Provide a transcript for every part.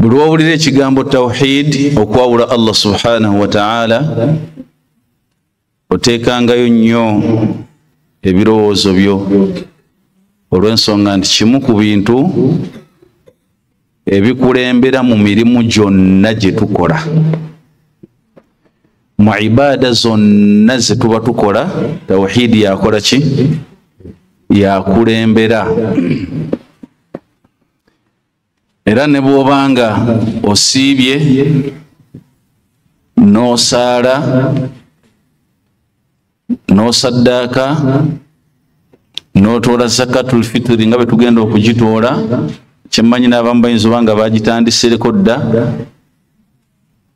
bwe lwowulira ekigambo tawhid okwawula allah subhanahu wataala oteekangayo nnyo ebirowoozo byo olw'ensonga nti kimu ku bintu ebikulembera mu mirimu gyonna gye tukola mu ibaada zonna ze tuba tukola tawhidi yakola ki yakulembera era ne bw'obanga osiibye n'osaala n'osaddaaka n'otoola zakatul fitiri nga bwe tugenda okugitoola kyemmanyi n'abamu bayinza oba nga bagitandisereko dda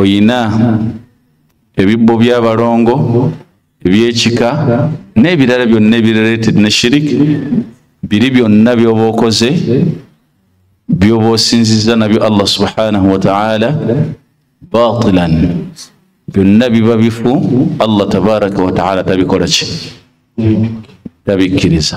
oyina ebibbo by'abalongo ebyekika n'ebirala byonna ebirelated ne shirik biri byonna byoba okoze byoba osinziza nabyo allah subhanahu wataala batilan byonna biba bifu allah tabaraka wataala tabikola ki tabikkiriza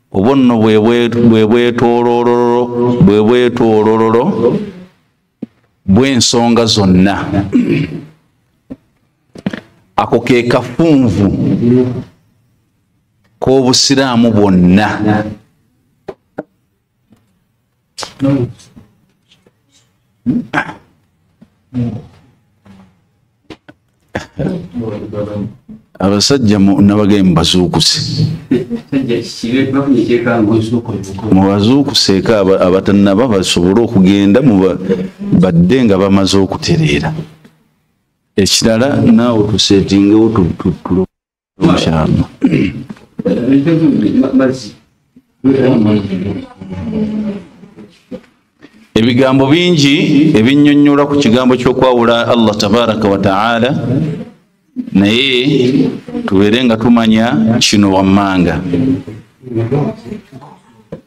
obwo nno bwe bwetoolololo bwe bwetoolololo bw'ensonga zonna ako ke kafunvu k'obusiraamu bwonna No. abasajja mu- nabagaye mubazuukuse mubazuukuseeko aba- abatanaba basobole okugenda muba- badde nga bamaze okutereera ekirala naawe tuseetingewo tu- tu- tu- inshallah ebigambo bingi ebinyonyola ku kigambo kyokwawula allah tabaraka wataala naye tubeere nga tumanya kino wammanga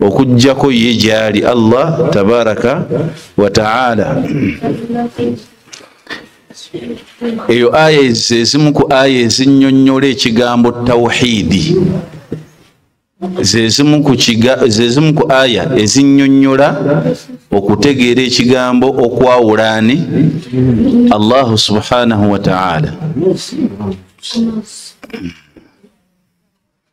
okujjako ye gyali allah tabaraka wataala eyo aya zezimu ku aya ezinyonyola ekigambo tawhidi zezimu ku aya ezinyonyola okutegeera ekigambo okwawulaani allahu subhanahu wataala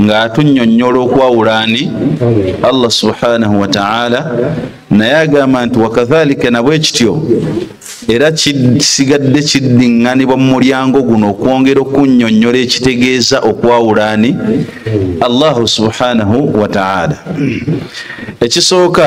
ng'atunyonnyola okwawula ani allah subhanahu wataala naye agamba nti wakadhalika nabwe kityo era kisigadde kiddiŋŋanibwa mu mulyango guno okwongera okunyonnyola ekitegeeza okwawula ani allahu subhanahu wataala ekisooka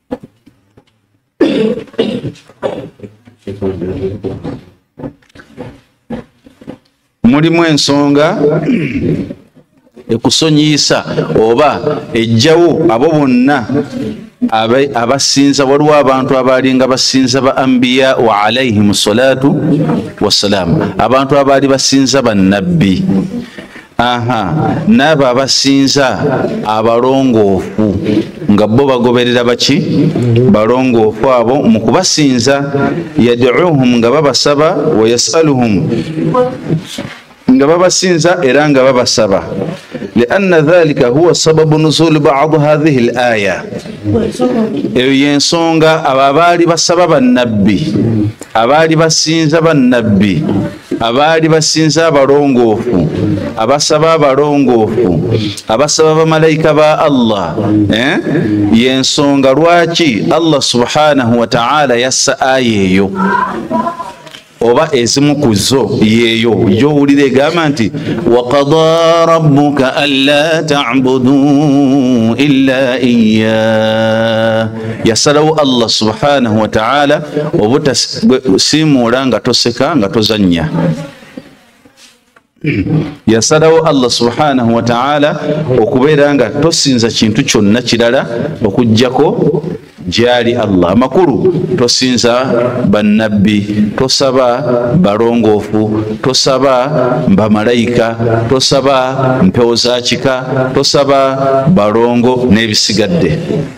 mulimu ensonga ekusonyiyisa oba ejjawo abo bonna abasinza waliwo abantu abaalinga basinza ba ambiya wa alaihim salatu wassalaamu abantu abaali basinza bannabbi aha n'abo abasinza abalongoofu nga bo bagoberera baki balongoofu abo mu kubasinza yaduuhum nga babasaba wayasaluhum nga babasinza era nga babasaba lianna dhalika huwa sababu nuzuli badu hadhihi l aya eyo yensonga abo abaali basaba bannabbi abaali basinza bannabbi abaali basinza abalongoofu abasaba abalongoofu abasaba bamalayika ba allah eh? yensonga lwaki allah subhanahu wataala yassa aya eyo oba ezimu ku zo yeeyo gyowulira egamba nti wakada rabuka anla tabudu ila iya yasalawo allah subhanahu wataala obutasiimuula nga toseka nga tozannya yasalawo allah subhanahu wataala okubeera nga tosinza kintu kyonna kirala okugjako gyali allah amakulu tosinza bannabbi tosaba balongoofu tosaba bamalayika tosaba mpewo za kika tosaba balongo n'ebisigadde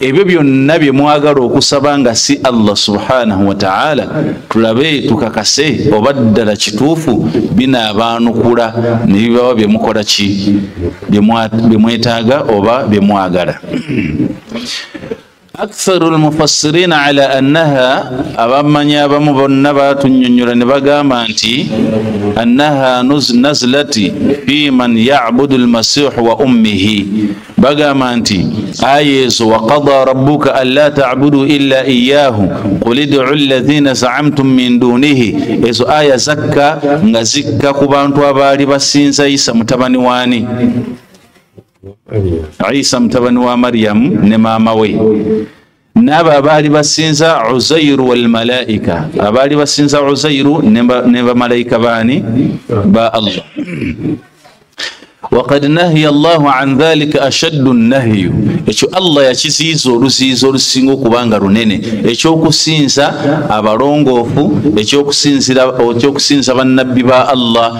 ebyo byonna bye mwagala okusaba nga si allah subhanahu wataala tulabe tukakase oba ddala kituufu binaabaanukula ne bibawa bye mukola ki bye mwetaaga oba bye mwagala aktharu lmufassirina ala annaha abamanyi abamu bonna batunyonyola ne bagamba nti annaha nazlati fi man yabudu lmasihu wa ummihi bagamba nti aya ezo wakada rabuka an la tabudu ila iyahu qul idu lazina zaamtum min dunihi ezo aya zakka nga zikka ku bantu abaali basinza isa mutabani wani isa mutabani wa mariyamu ne maama we n'abo abaali basinza uzairu walmalaika abaali basinza uzairu ne bamalaika baani ba allah wakad nahiya llahu an dhalika ashaddu nahyu ekyo allah yakiziiza oluziiza olusinga okuba nga lunene ekyokusinza abalongoofu ekyokusinza bannabbi ba allah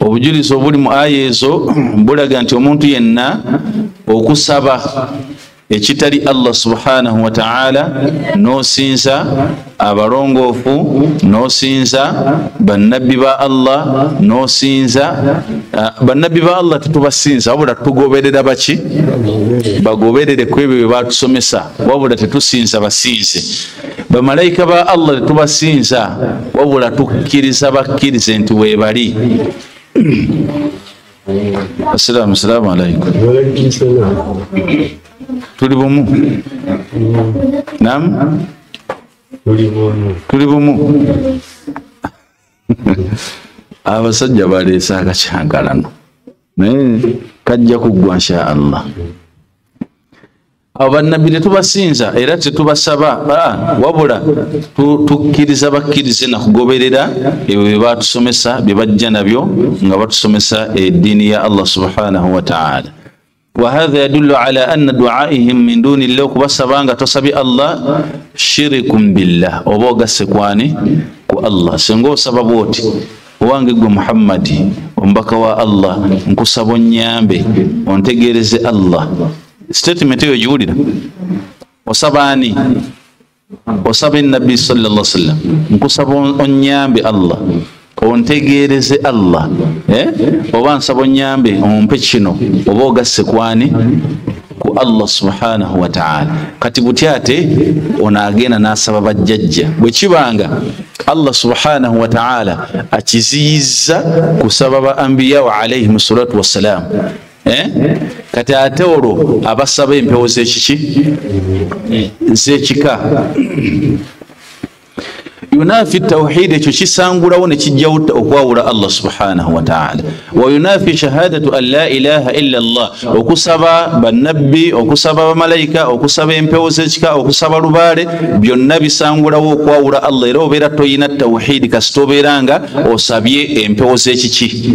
obujulizi obuli mu aya ezo bulaga nti omuntu yenna okusaba ekitali allah subhanahu wataala nosinza abalongoofu nosinza bannabbi ba allah nosinza ah, bannabbi ba allah tetubasinza wabula tugoberera baki bagoberere ku ebyo bye batusomesa wabula tetusinza basinze bamalayika ba allah tetubasinza wabula tukkiriza bakkirize nti webali assalamu salaamu alaikum tuli bumu nam tuli bumu abasajja baleese akakyangalano naye kajja kuggwa nsha allah abo bannabbi tetubasinza era tetubasaba ah, wabula tukkiriza bakkirize nakugoberera ebyo bye batusomesa bye bajja nabyo nga batusomesa eddiini ya allah subhanahu wataala wahadha yadullu ala anna duaihim min duni llah okubasaba nga tosabi allah shirikun billah oba ogasse kwani ku allah singa osaba bwoti owange gwe muhammadi omubaka wa allah nkusaba onyambe ontegeereze allah statement eyo giwulira osaba ani osaba enabbi salla sallam nkusaba onyambe allah ontegeereze allah eh? oba nsaba onyambe ompe kino oba ogasse kwani ku allah subhanahu wataala kati buty ate onaagenda n'asaba bajjajja bwe kibanga allah subhanahu wataala akiziyizza kusaba ba ambiyawo alaihim salatu wassalaamu Eh? kati ate olwo abasaba empewo zekiki zekika yunafi tauhid ekyo kisangulawo nekijjawo okwawula allah subhanahu wataala wayunafi shahadatu an la ilaha illa llah okusaba banabbi okusaba bamalaika okusaba empewo zekika okusaba lubaale byonna bisangulawo okwawula allah era obeera toyina tauhidi kasita obeera nga osabye empewo zekiki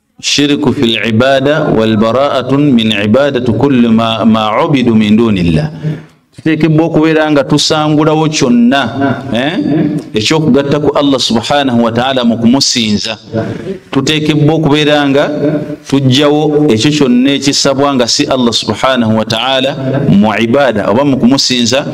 shiriku fi libada walbaraatu min ibadati kulli ma, ma ubidu min duni llah tuteekebwa okubeera nga tusangulawo kyonna eh? ekyokugatta ku allah subhanahu wataala mu kumusinza tuteekebwa okubeera nga tujjawo ekyo kyonna ekisabwa nga si allah subhanahu wataala mu ibada oba mu kumusinza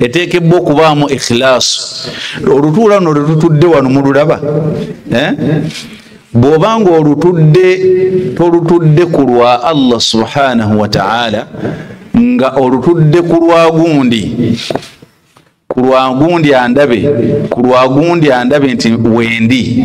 eteekebwa okubaamu ekhilaasu olutuula luno lwetutudde wano mululaba eh? bw'oba nga olutudde tolutudde ku lwa allah subhanahu wataala nga olutudde ku lwa gundi ku lwa gundi andabe ku lwa gundi andabe nti wendi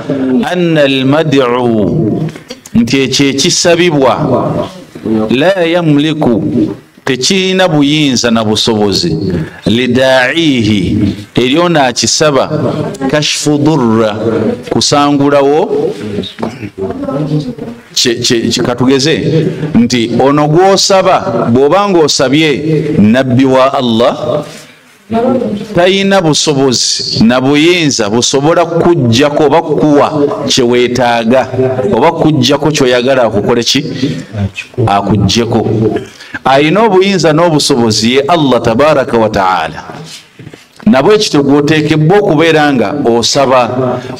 anna almadu nti ekyo ekisabibwa la yamliku tekirina buyinza na busobozi lidaihi eryo naakisaba kashfu durra kusangulawo katugeze nti ono gwosaba bw'oba ng'osabye nabbi wa allah talina busobozi na buyinza busobola kukujjako oba kukuwa kyeweetaaga oba kukujjako kyoyagala akukole ki akujjeko alina obuyinza n'obusobozi ye allah tabaraka wataala nabwe kityo gwoteekebwa okubeera nga osaba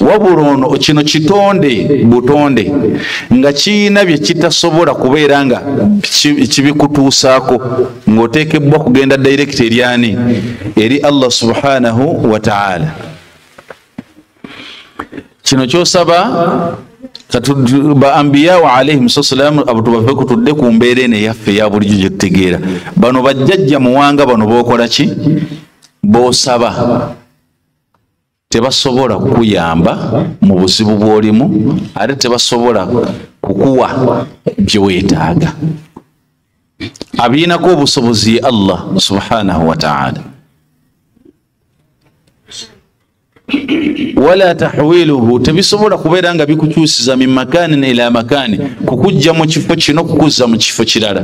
wabula ono kino kitonde butonde nga kiyina bye kitasobola kubeera nga kibikutuusaako ng'oteekebbwa kugenda direct eryani eri allah subhanahu wataala kino kyosaba baambiyawo alaihim sasalaamu abantu bave kutudde ku mbeera eno eyaffe eya bulijjo gye tutegeera bano bajjajja muwanga bano bokola ki bosaba tebasobola kukuyamba mu buzibu bw'olimu ate tebasobola kukuwa bye weetaaga abiinako obusobozi allah subhanahu wataala wala tahwiluhu tebisobola kubeera nga bikukyusiza min makanin ila makani kukujja mu kifo kino kukuzza mu kifo kirala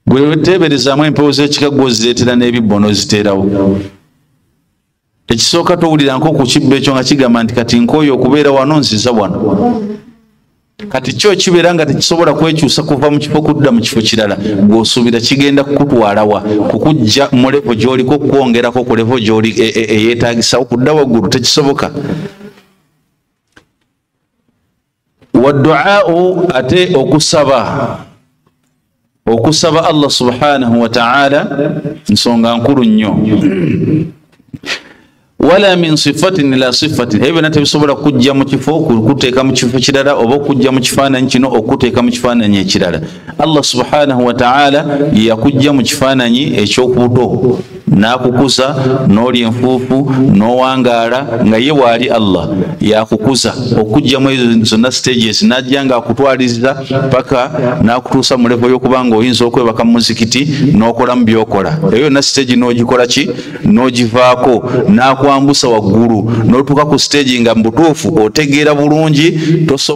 gweweteeberezaamu empewo z'ekika gwozireetera n'ebibbo n'oziteerawo ekisooka towulira nko ku kibbo ekyo nga kigamba nti kati nkooyo okubeera wano nziza wano kati kyo kibeera nga tekisobola kwekyusa kuva mu kifo kudda mu kifo kirala gweosuubira kigenda kukutwalawa kukujja mu levo gyoliko okukwongerako ku levo gyoli e, e, eyeetagisawo kudda waggulu tekisoboka waduau ate okusaba okusaba allah subhanahu wataala nsonga nkulu nnyo wala min sifatin ila sifatin ebyo byona tebisobola kujja mu kifo okuteeka mu kifo kirala oba okujja mu kifaananyi kino okuteeka mu kifaananyi ekirala allah subhanahu wataala yeyakujja mu kifaananyi ekyokubuto n'akukuza n'oli enfuufu n'owangaala nga ye waali allah yakukuza okujjamu ezo zonna stages n'ajja nga akutwaliza paka n'akutuusa mu levo y'okuba nga oyinza okwebaka mu muzikiti n'okolamu byokola eyo yonna stage n'ogikola ki n'ogivaako n'akwambusa waggulu n'otuuka ku stage nga mu butuufu otegeera bulungi toso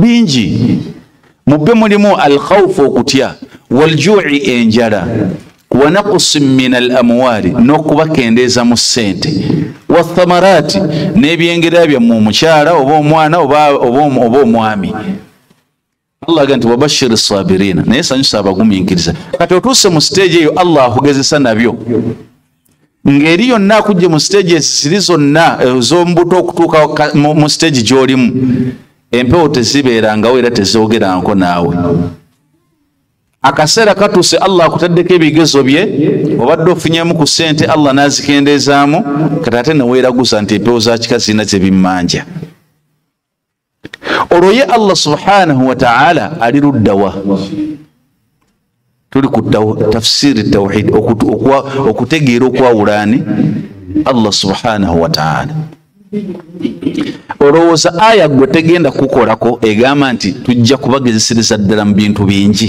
bingi mu byo mulimu alkhaufu okutya waljui enjala wanakusi min al amwaali n'okubakendeeza mu ssente wathamaraati n'ebyengera byammwe omukyala oba omwana oba omwami allah aga nti wabashiri sabirina naye sanyusa abagumiikiriza kati otuuse mu siteegi eyo allah akugezesa nabyo ngeri yonna akujje mu siteegi ezisiri zonna eh, z'omubuto okutuuka mu siteegi gy'olimu empewo tezibeerangawo era tezoogeranko naawe akaseera katuuse allah akutaddeko ebigezo bye obadde ofunyemu ku ssente allah n'azikendeezaamu kati ate neweeraguza nti empewo za kika zirina zebimmanja olwo ye allah subhanahu wataala ali luddawa tuli ku tafsiri tauhid okutegeera okwawulaani allah subhanahu wataala olowooza aya gwe tegenda kukolako egamba nti tujja kubagezesereza ddala mu bintu bingi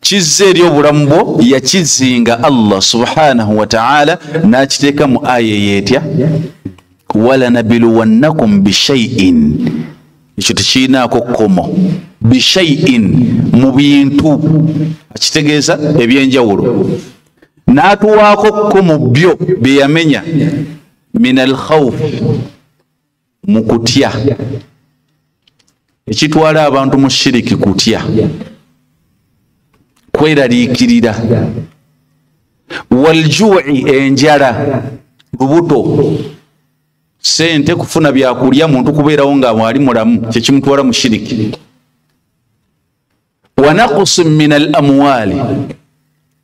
kizza eri obulamu bwo yakizinga allah subhanahu wataala nakiteeka mu aya eyo etya walanabiluwannakum bishaiin ekyo tekirinaako kkomo bishaiin mu bintu akitegeeza ebyenjawulo n'atuwaako kko mu byo bye yamenya min alkhawfi mu kutya ekitwala abantu mu shiriki kutya kweraliikirira waljui enjala lubuto sente kufuna byakulya muntu kubeerawo nga mwali mulamu kyekimutwala mu shiriki wanakusi min al amwali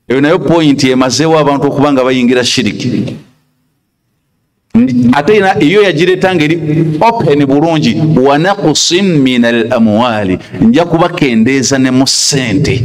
eyo nayo pointi emazeewo abantu okuba nga bayingira shiriki ate ina eyo yagireta ngeri open bulungi wanakusin min al amwali nja kubakendeeza ne mu ssente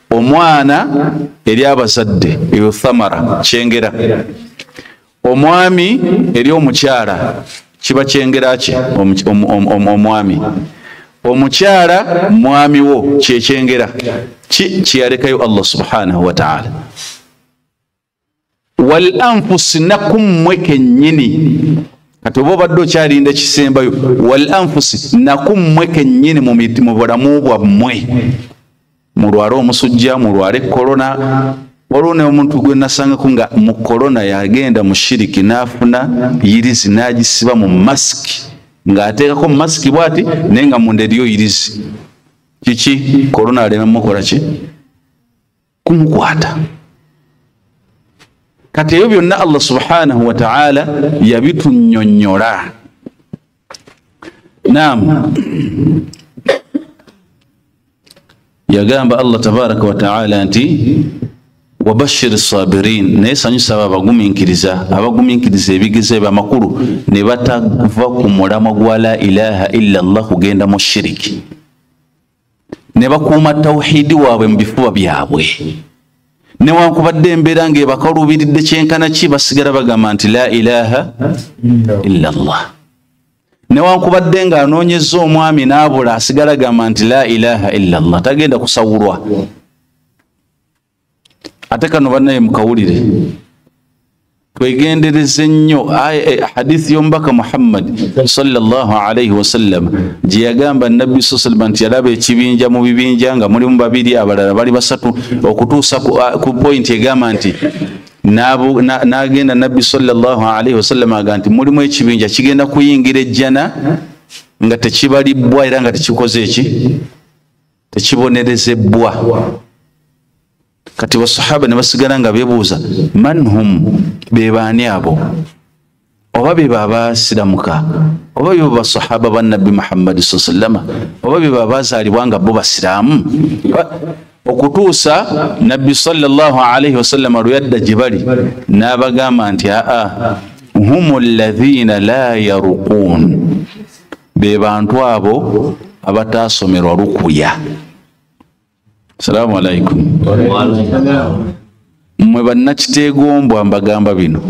omwana eri abazadde eyo thamara kyengera omwami eri omukyala kiba kyengera kye omwami omukyala mwami wo kyekyengera ki kyeyalekayo allah subhanahu wataala wal anfusi nakummwe kennyini kati oba obadde okyalinda ekisembayo wal anfusi nakummwe kennyini mu bulamu bwammwe mulwale omusujja mulwale korona waliwo ne omuntu gwe nasangako nga mu korona yagenda mu shiriki n'afuna yirizi n'agisiba mu masiki ng'ateekako mu masiki bwati naye nga munda eriyo yirizi kiki korona alema mukola ki kumukwata kati ebyo byonna allah subhanahu wataala yabitunyonyola nam yagamba allah tabaraka wataala nti wabashiri sabirin naye sanyusa abo abaguminkiriza abaguminkiriza ebigezo ebyo amakulu ne batava ku mulamwa gwa la ilaha illa llah kugenda mu shiriki ne bakuuma tawuhidi waabwe mu bifuba byabwe newankubadde embeera ngaebakaluubiridde kyenkana ki basigala bagamba nti la ilaha illa llah newankubadde ng'anoonyeza omwami n'abula asigala gamba nti la ilaha illa llah tagenda kusawulwa ate kano banaye mukawulire twegendereze nnyo eh, hadithi y'omubaka muhammadi salllah alaihi wasallam gye yagamba nabbi sa salama nti yalaba ekibinja mu bibinja nga mulimu babiri abalala bali basatu okutuusa ku ah, pointi egamba nti n'agenda nabbi salllah alaihi wasallam aga nti mulimu ekibinja kigenda kuyingira ejjana nga tekibalibbwa era nga tekikoze eki tekibonerezebbwa kati basahaba ne basigala nga bebuuza man hum bebaani abo oba bebo abasiramuka oba bebo basahaba banabbi muhammadi sa sallama oba bebo abazaalibwa nga bo basiraamu okutuusa nabbi salllah alaihi wasallama lwe yadda gye bali n'abagamba nti aa hum alladhina la yaruquun be bantu abo abataasomerwa lukuya salaamu alaikum mwe bannakiteegombwa mbagamba bino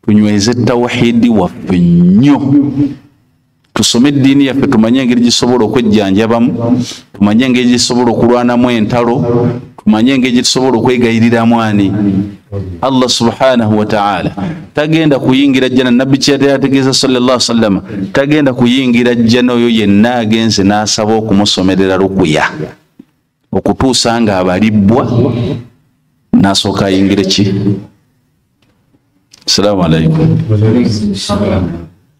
tunyweze tawahidi waffe nnyo tusome eddiini yaffe tumanye engeri gisobola okwejjanjabamu tumanye engeri gisobola okulwanamu entalo tumanye engeri gyetusobola okwegayiriramu ani allah subhanahu wataala tagenda kuyingira jjana nabbi kyeyategeeza salllah sallama tagenda kuyingira jjana oyo yenna agenze n'asaba okumusomerera lukuya okutuusa nga abalibbwa n'asooka ayingire ki salaamu alaikum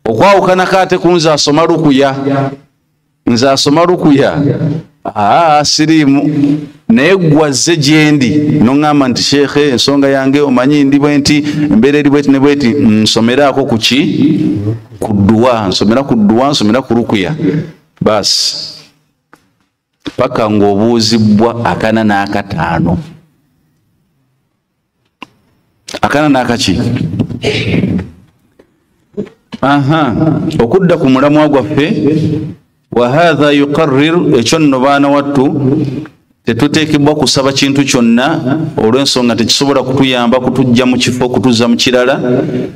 okwawukanako ate kunze asoma lukuya nze asoma lukuya aa siriimu naye gwazze gyendi noŋŋamba nti sheekhe ensonga yange omanyi ndi bwe nti embeera eri bweti ne bweti nsomeraako ku ki ku dduwa nsomera ku dduwa nsomera ku lukuya baasi paka ng'obuuzibbwa akana n'akataano akana nakaki aha okudda ku mulamwa gwaffe wahatha yuqarir ekyo nno baana wattu tetuteekebwa kusaba kintu kyonna olw'ensonga tekisobola kutuyamba kutujja mu kifo kutuzza mu kirala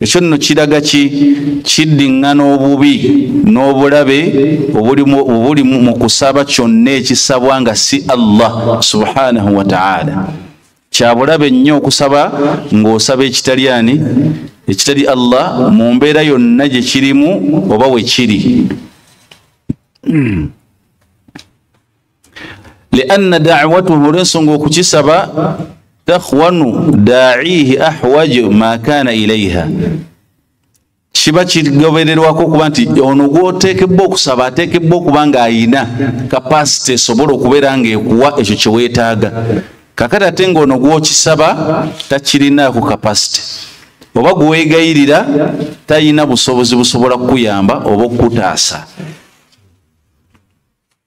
ekyo nno kiraga ki kiddiŋŋana obubi n'obulabe obuli mu kusaba kyonna ekisabwa nga si allah subhanahu wataala kyabulabe nnyo okusaba ng'osaba ekitali ani ekitali allah mu mbeera yonna gye kirimu oba we kiri hmm. lianna dawatuhu olwensonga okukisaba takhwanu daihi ahwaju ma kana ilaiha kiba kigobererwako okuba nti ono gwoteekebwa okusaba ateekebwa okuba ng'ayina kapasite esobola okubeera ng'ekuwa ekyo kye weetaaga kakati ate ng'ono gwokisaba takirinaako kapasite oba gweweegayirira talina busobozi busobola kukuyamba oba okukutaasa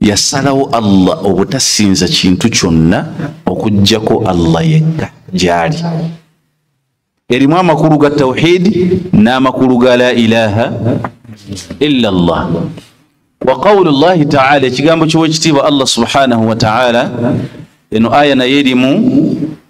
yasalawo allah obutasinza kintu kyonna okujjako allah yekka gyali erimu amakulu ga tawhidi n'amakulu ga la ilaha illa allah wa qawlu llahi taala ekigambo kyowekitiibwa allah subhanahu wataala eno aya naye erimu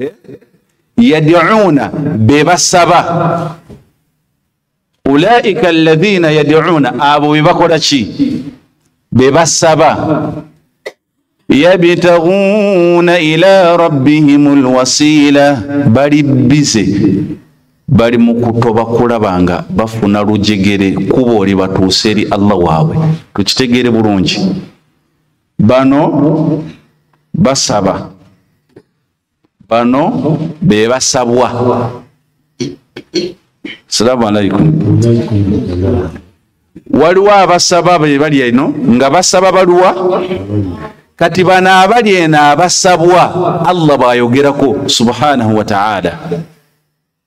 eh? yadiuna be basaba ulaika alladhina yadiuna abo be bakola ki be basaba yabitaguuna ila rabbihim alwasila bali bize bali mu kutoba kulaba nga bafuna lujegere kuba oli batuuse eri allah waabwe tukitegeere bulungi bano basaba bano bebasabwa salamu alaikum waliwo abasaba bebali eno nga basaba baluwa kati bano abali eno abasabwa allah bwayogerako subhanahu wataala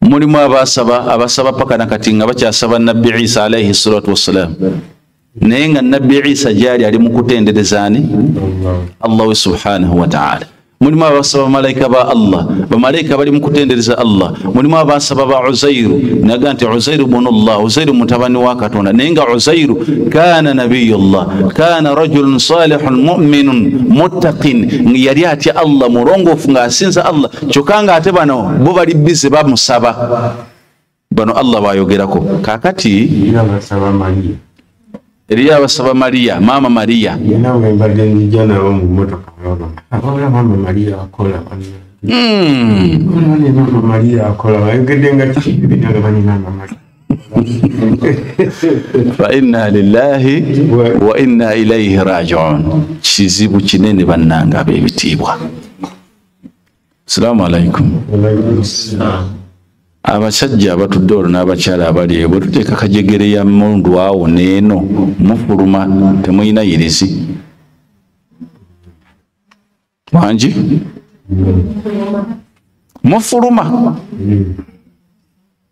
mulimu abasaba abasaba paka nakati nga bakyasaba nabbi isa alaihi salatu wassalam naye nga nabbi isa gyali ali mukutenderezaani allah we subhanahu wataala mulimu abasaba bamalaika ba allah bamalaika bali mukutendereza allah mulimu abasaba ba uzairu naga nti uzairu bunu llah uzairu mutabani wa katonda naye nga uzairu kana nabiyu llah kana rajulun salihun muminun muttaqin yali atya allah mulongoofu ngaasinza allah kyokka nga ate bano bo bali bize bamusaba bano allah bayogerako kakati eriyo abasaba maria maama maria faina lilahi waina ilaihi rajiun kizibu kinene bannanga abebitiibwa salaamu alaikum abasajja abatudde olwo n'abakyala abali eyo bwe tuteeka kajegere ya mundu awo neeno mufuluma temulina yirizi wangi mufuluma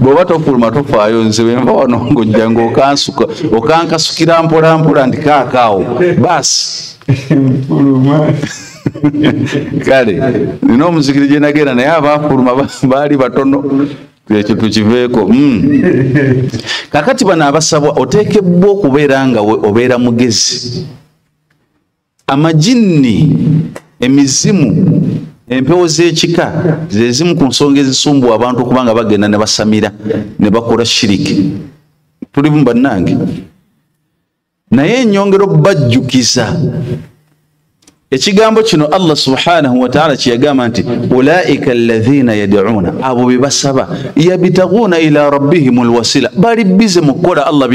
bw'oba tofuluma tofaayo nze wenva wano ng'ojja ng'okansuka okankasukira mpolampola ndi kaakaawo baasi nfuluma kale nina omuzikiri gye nagenda naye abaafuluma baali batono ekyo tukiveeko hmm. kakati bano abasabwa oteekebbwa okubeera nga obeera mugezi amajinni emizimu empewo z'ekika zezimu ku nsonga ezisumbuwa abantu okuba nga bagenda ne basamira ne bakola shiriki tulimu bannange naye enyongera okubajjukiza ekigambo kino allah subhanahu wataala kyeyagamba nti ulaika alaina yadiuna abo bebasaba yabitaguuna ila rabbihim lwasila bali bize mukukola allah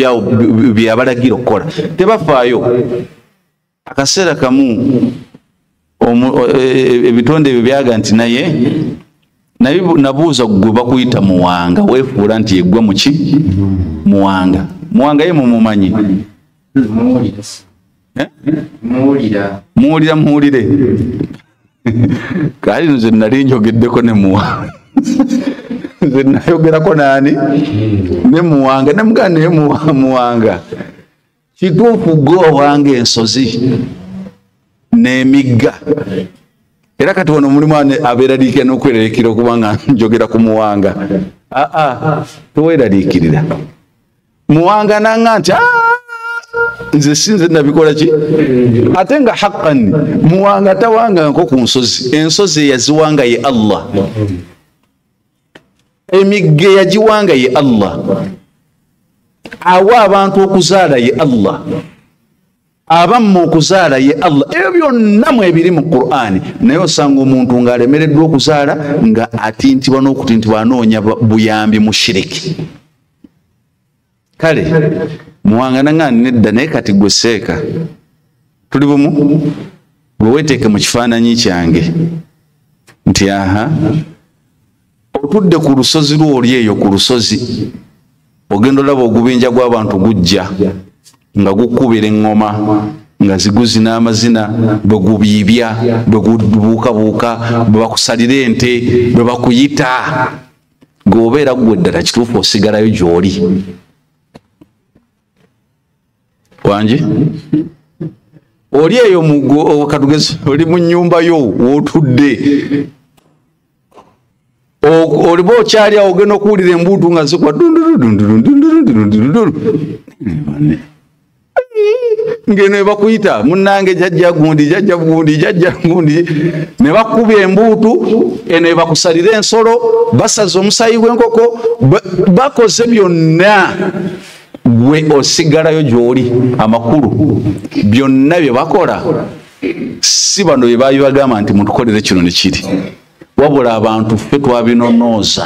byabalagira okukola tebafaayo akaseera kamu e, e, ebitonde ebyo byaga nti naye naye nabuuza gwe bakuyita muwanga wefuula nti yegwe muki muwanga muwanga ye mumumanyi eh? muwulira muwulire kali nze nali njogeddeko ne muwanga nze nayogerako naani ne muwanga nemugaa naye muwanga kituufu gwe owanga ensozi n'emigga era kati wano mulimu abeeraliikira n'okweraliikira okuba nga njogera ku muwanga aa teweeraliikirira muwanga nanga nti nze sinze nabikola ki ate nga haqqan muwanga tawanganko ku nsozi ensozi eyaziwanga ye allah emigga eyagiwanga ye allah awa abantu okuzaala ye allah abamma okuzaala ye allah ebyo byonna mu ebiri mu qur'ani naye osanga omuntu ng'alemereddwa okuzaala nga atintibwa n'okutintibwa anoonya buyambi mu shiriki kale muwangana nga nedda naye kati gwe seeka tuli bumu gwe weteeke mu kifaananyi kyange nti aha otudde ku lusozi lwoli eyo ku lusozi ogenda olaba ogubinja gw'abantu gujja nga gukubira eŋŋoma nga ziguzi n'amazina bwe gubiibya bwe gubuukabuuka bwe bakusalira ente bwe bakuyita gweobeera gwe ddala kituufu osigalayo gyoli wangi oli eyo mugkatugezi oli mu nyumba yo wotudde oliba okyali awo ogenda okuwulira embuutu nga zikwa dundurudundurundundurundurundurundu ngeno ebakuyita munange jajja gundi jajja gundi jajja gundi ne bakuba embuutu eno ebakusalira ensolo basaza omusayi gwenkoko bakoze byonna gwe osigalayo gyoli amakulu byonna bye bakola si bano bye babibagamba nti mutukolere kino ne kiri wabula abantu ffe twabinonooza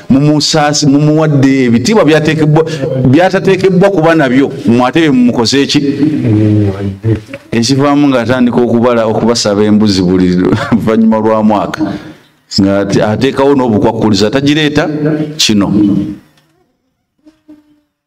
mumusaasi mumuwadde ebitiibwa byatekebwa byatatekebbwa kuba nabyo mwate bye mumukoze eki ekivaamu ngaatandika okubala okubasaba embuzi buli luvannyuma lwa mwaka nga ateekawo n'obukwakkuliza tagireeta kino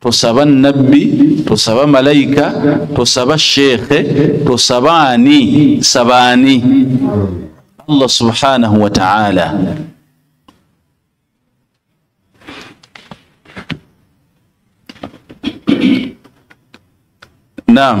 tosaba nabbi tosaba malayika tosaba sheekhe tosaba ani saba ani allah subhanahu wataala nam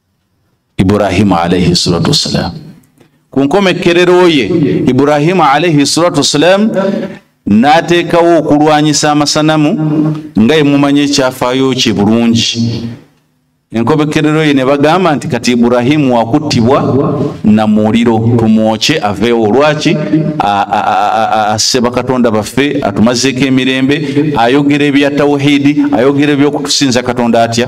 ibrahimu alaihi salatu wassalamu ku nkomekkerero ye ibrahimu alaihi salatu wassalamu n'ateekawo okulwanyisa amasanamu nga yemumanya ekyafaayo kye bulungi enkobekerero ye ne bagamba nti kati iburahimu wakuttibwa na muliro tumwokye aveewo lwaki asse bakatonda baffe atumazeeko emirembe ayogera ebya tawuhidi ayogera ebyokutusinza katonda atya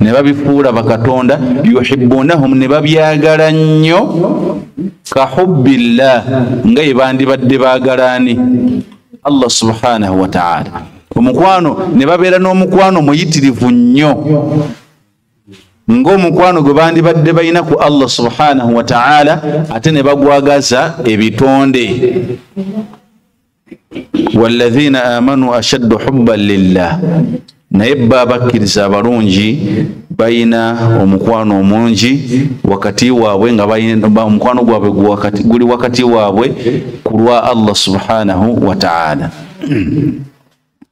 ne babifuula bakatonda yuhibunahum ne babyagala nnyo ka hubbillah nga ye bandibadde baagalaani allah subhanahu wataala omukwano ne babeera n'omukwano muyitirivu nnyo ng'omukwano gwe bandibadde balina ku allah subhanahu wataala ate ne bagwagaza ebitonde walladhina amanu ashaddu hubban lillah naye bba abakkiriza abalungi balina omukwano omungi wakati waabwe nga omukwano gwabwe guli wakati waabwe ku lwa allah subhanahu wataala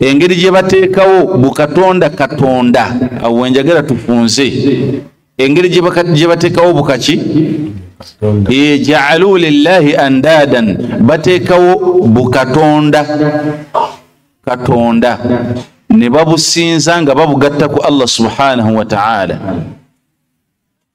engeri gye bateekawo bukatonda katonda awo wenjagala tufunze engeri gye bateekawo bukaki jaalu lillahi andadan bateekawo bukatonda katonda ne babusinza nga babugatta ku allah subhanahu wataala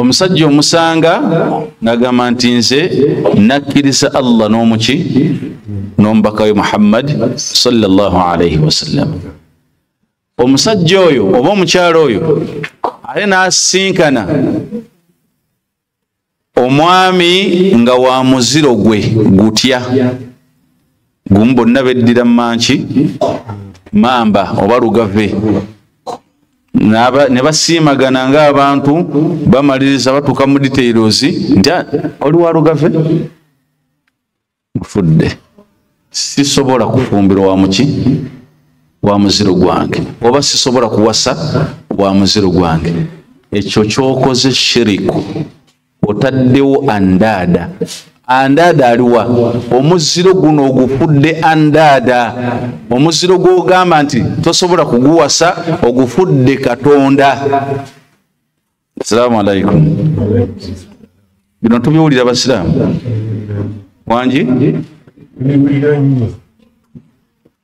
omusajja omusanga ngagamba nti nze nakkiriza allah n'omuki n'omubakawe muhammadi salllahu alaihi wasallam omusajja oyo oba omukyalo oyo ate n'asisinkana omwami nga wa muziro gwe gutya gumu bonna beddira manki mamba oba lugave ne basiimagana ng'abantu bamaliriza batuuka mu details nti ah, oli wa lugave mufudde sisobola kufumbirwa wa muki wa muziro gwange oba sisobola kuwasa wa muziro gwange ekyo kyokoze shiriku otaddewo andaada andaada aliwa omuziro guno ogufudde andaada omuziro gwogamba nti tosobola kuguwasa ogufudde katonda asalaamu alaikum bino tubiwulira basiraamu wangi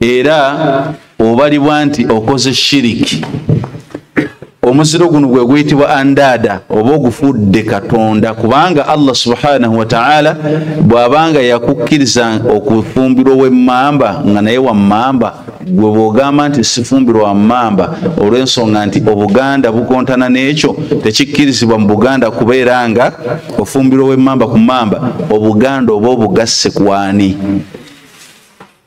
era obalibwa nti okoze shiriki omuziro guno gwe guyitibwa andaada oba ogufudde katonda kubanga allah subhanahu wataala bw'abanga yakukkiriza okufumbirwa owemmamba nga naye wammamba gwe bw'ogamba nti sifumbirwa wammamba olw'ensonga nti obuganda bukontana n'ekyo tekikkirizibwa mu buganda kubeera nga ofumbirwa owemmamba ku mamba obuganda oba obugasse kwani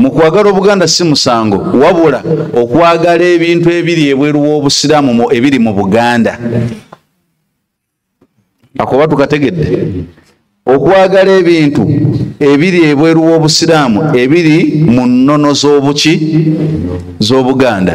mu kwagala obuganda si musango wabula okwagala ebintu ebiri ebweru w'obusiraamu mu ebiri mu buganda akoba tukategedde okwagala ebintu ebiri ebweru w'obusiraamu ebiri mu nnono z'obuki z'obuganda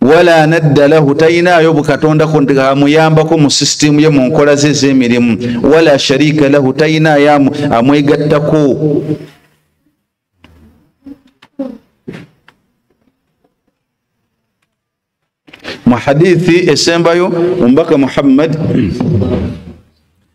wala nadda lahu talinaayo bukatonda amuyambako mu sisitimu ye mu nkola ze ez'emirimu wala shariika lahu talinaayo amwegattako mu hadithi esembayo omubaka muhammad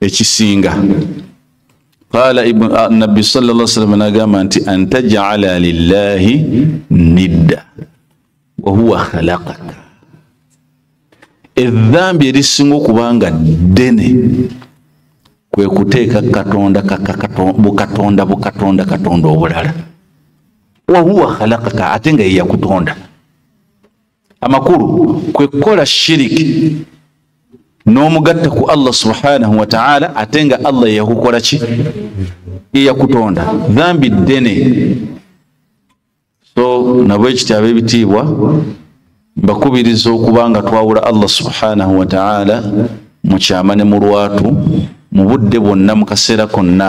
ekisinga qala nabbi salla salama nagamba nti antajala lillahi nidda wahuwa khalakaka edhambi erisinga okubanga ddene kwe kuteeka katonda bukatonda bukatonda katonda obulala wahuwa khalakaka ate nga yeyakutonda amakulu kwe kukola shiriki n'omugatta ku allah subhanahu wataala ate nga allah yeyakukola ki yeyakutonda dhambi ddene so nabwe ekiti ab'ebitiibwa mbakubiriza okuba nga twawula allah subhanahu wataala mu kyama ne mu lwatu mu budde bwonna mu kaseera konna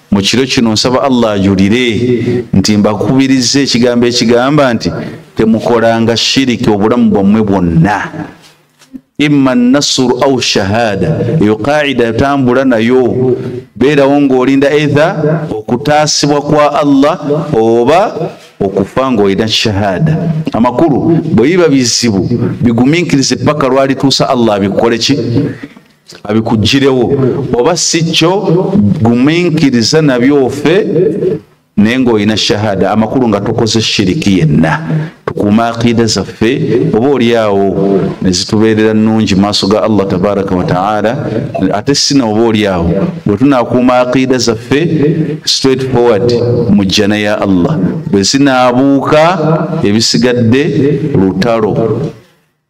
mu kiro kino nsaba allah ajulire nti mbakubiriza ekigambo ekigamba nti temukolanga shiriki obulamu bwammwe bwonna imma nasuru au shahada eyo qaida etambula nayo beerawo ng'olinda eitha okutaasibwa kwa allah oba okufa ng'olina shahada amakulu bwe biba bizibu bigumiikirize paka lwalituusa allah abikole ki abikugirewo oba si kyo guminkiriza nabyo ofe naye ngaolina shahada amakulu nga tokoze shiriki yenna tukuuma aqiida zaffe oba olyawo nezitubeerera nungi maaso ga allah tabaraka wataala ate sina oba olyawo bwetunakuuma aqiida zaffe straight forward mu jjana ya allah bwezinaabuuka ebisigadde lutalo